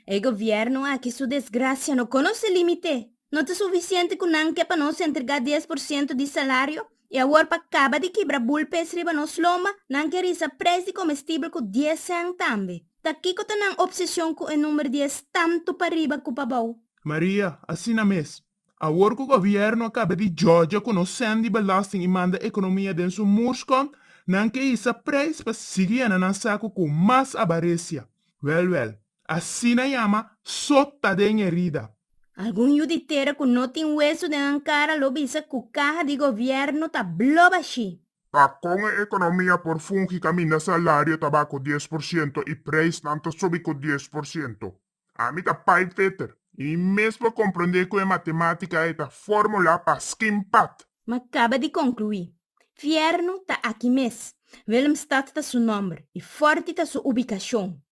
E gobierno aki su desgracia no conoce limite. No ta suficiente cu nan ke pa nos entrega dies por ciento di salario y awor pa caba di kibra bulpes riba nos loma nan ke risa prijs di comestible cu dies cent tambe. Ta kico ta nan obsesion cu e number dies tanto pa riba cu pa bao? Maria, Asina mes. Awor cu gobierno a caba di joja cu nos send di belasting y manda economia den su mursco, nan ke hisa prijs pa sigui yena nan sacu cu mas a baresia. Wel, wel. Asina yama sot ta den herida. Algun yu di tera cu no tin hueso den nan cara lo bisa cu caha di gobierno ta blo bashi. Pa con e economia por fungi caminda salario ta baha cu dies por ciento y prijsnan ta subi cu dies por ciento? Ami ta pijpfitter y mi mes por comprende cu e matematica e ta formula pa skin pat. Ma caba di conclui. Fierno ta aki mes. Willemstad ta su nomber y forti ta su ubicacion.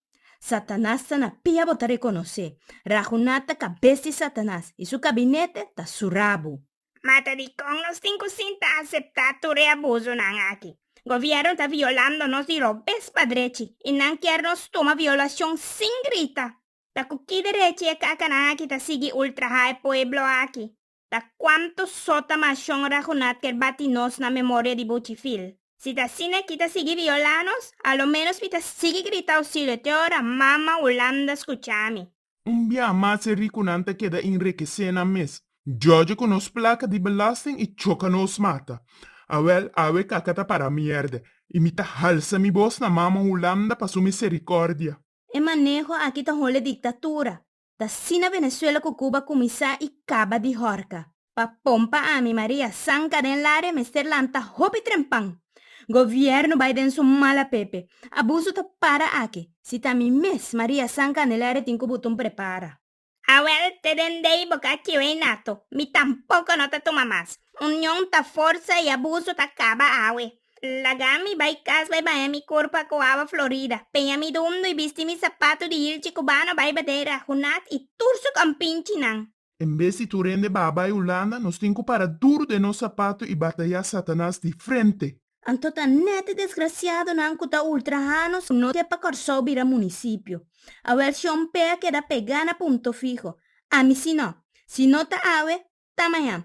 Satanas ta na pia bo ta reconoce. Raghunat ta cabes di Satanas y su cabinete ta su rabo. Mata dikon nos tin ku sinta aseptá tur e abusonan aki? Gobièrnu ta violando nos di robes pa drechi i nan kier nos tuma violashon sin grita. Ta ku ki derechi e kakanan aki ta sigui ultrahá e pueblo aki? Ta kuantu sota mashon Raghunat kier bati nos na memoria di Buchifil? Si ta asina ki ta sigui violá nos, a lo ménos mi ta sigui grita ousilio te ora mama Hulanda skuchami. Un bia mas e ricunan ta keda inrekece nan mes, djodje cu nos placa di belasting y choca nos mata. Awel, awe kaka ta para mierde, y mi ta halsa mi bos na Mama Hulanda pa su misericordia. E maneho aki ta hole dictatura, ta asina Venezuela cu Cuba cuminsa y caba di horca. Pa pon pa ami Maria san ka den lari e mester lanta hopi trempan. Gobierno bai den su mala pepe. Abuso ta para aki. Si ta mi mes Maria san Candelaria tin cu buton prepara. Awel te den dei bo ka kiu ei nato. Mi tampoco no ta tuma mas. Union ta forsa y abuso ta caba awe. Laga mi bai cas bai baña mi curpa cu awa florida. Peña mi dumdo y bisti mi sapato di hilchi cubano bai badera, hunat y tur su compinchinan. En bes di tur hende baha bai Hulanda, nos tin ku para duru den nos sapatu i batayá Satanas di frente. Anto ta nèt di desgrasiadonan ku ta ultrahános ku no ke pa Kòrsou bira munisipio. Awèl si un pe a keda pegá na punto fiho. Ami si no. Si no ta awe, ta mañan.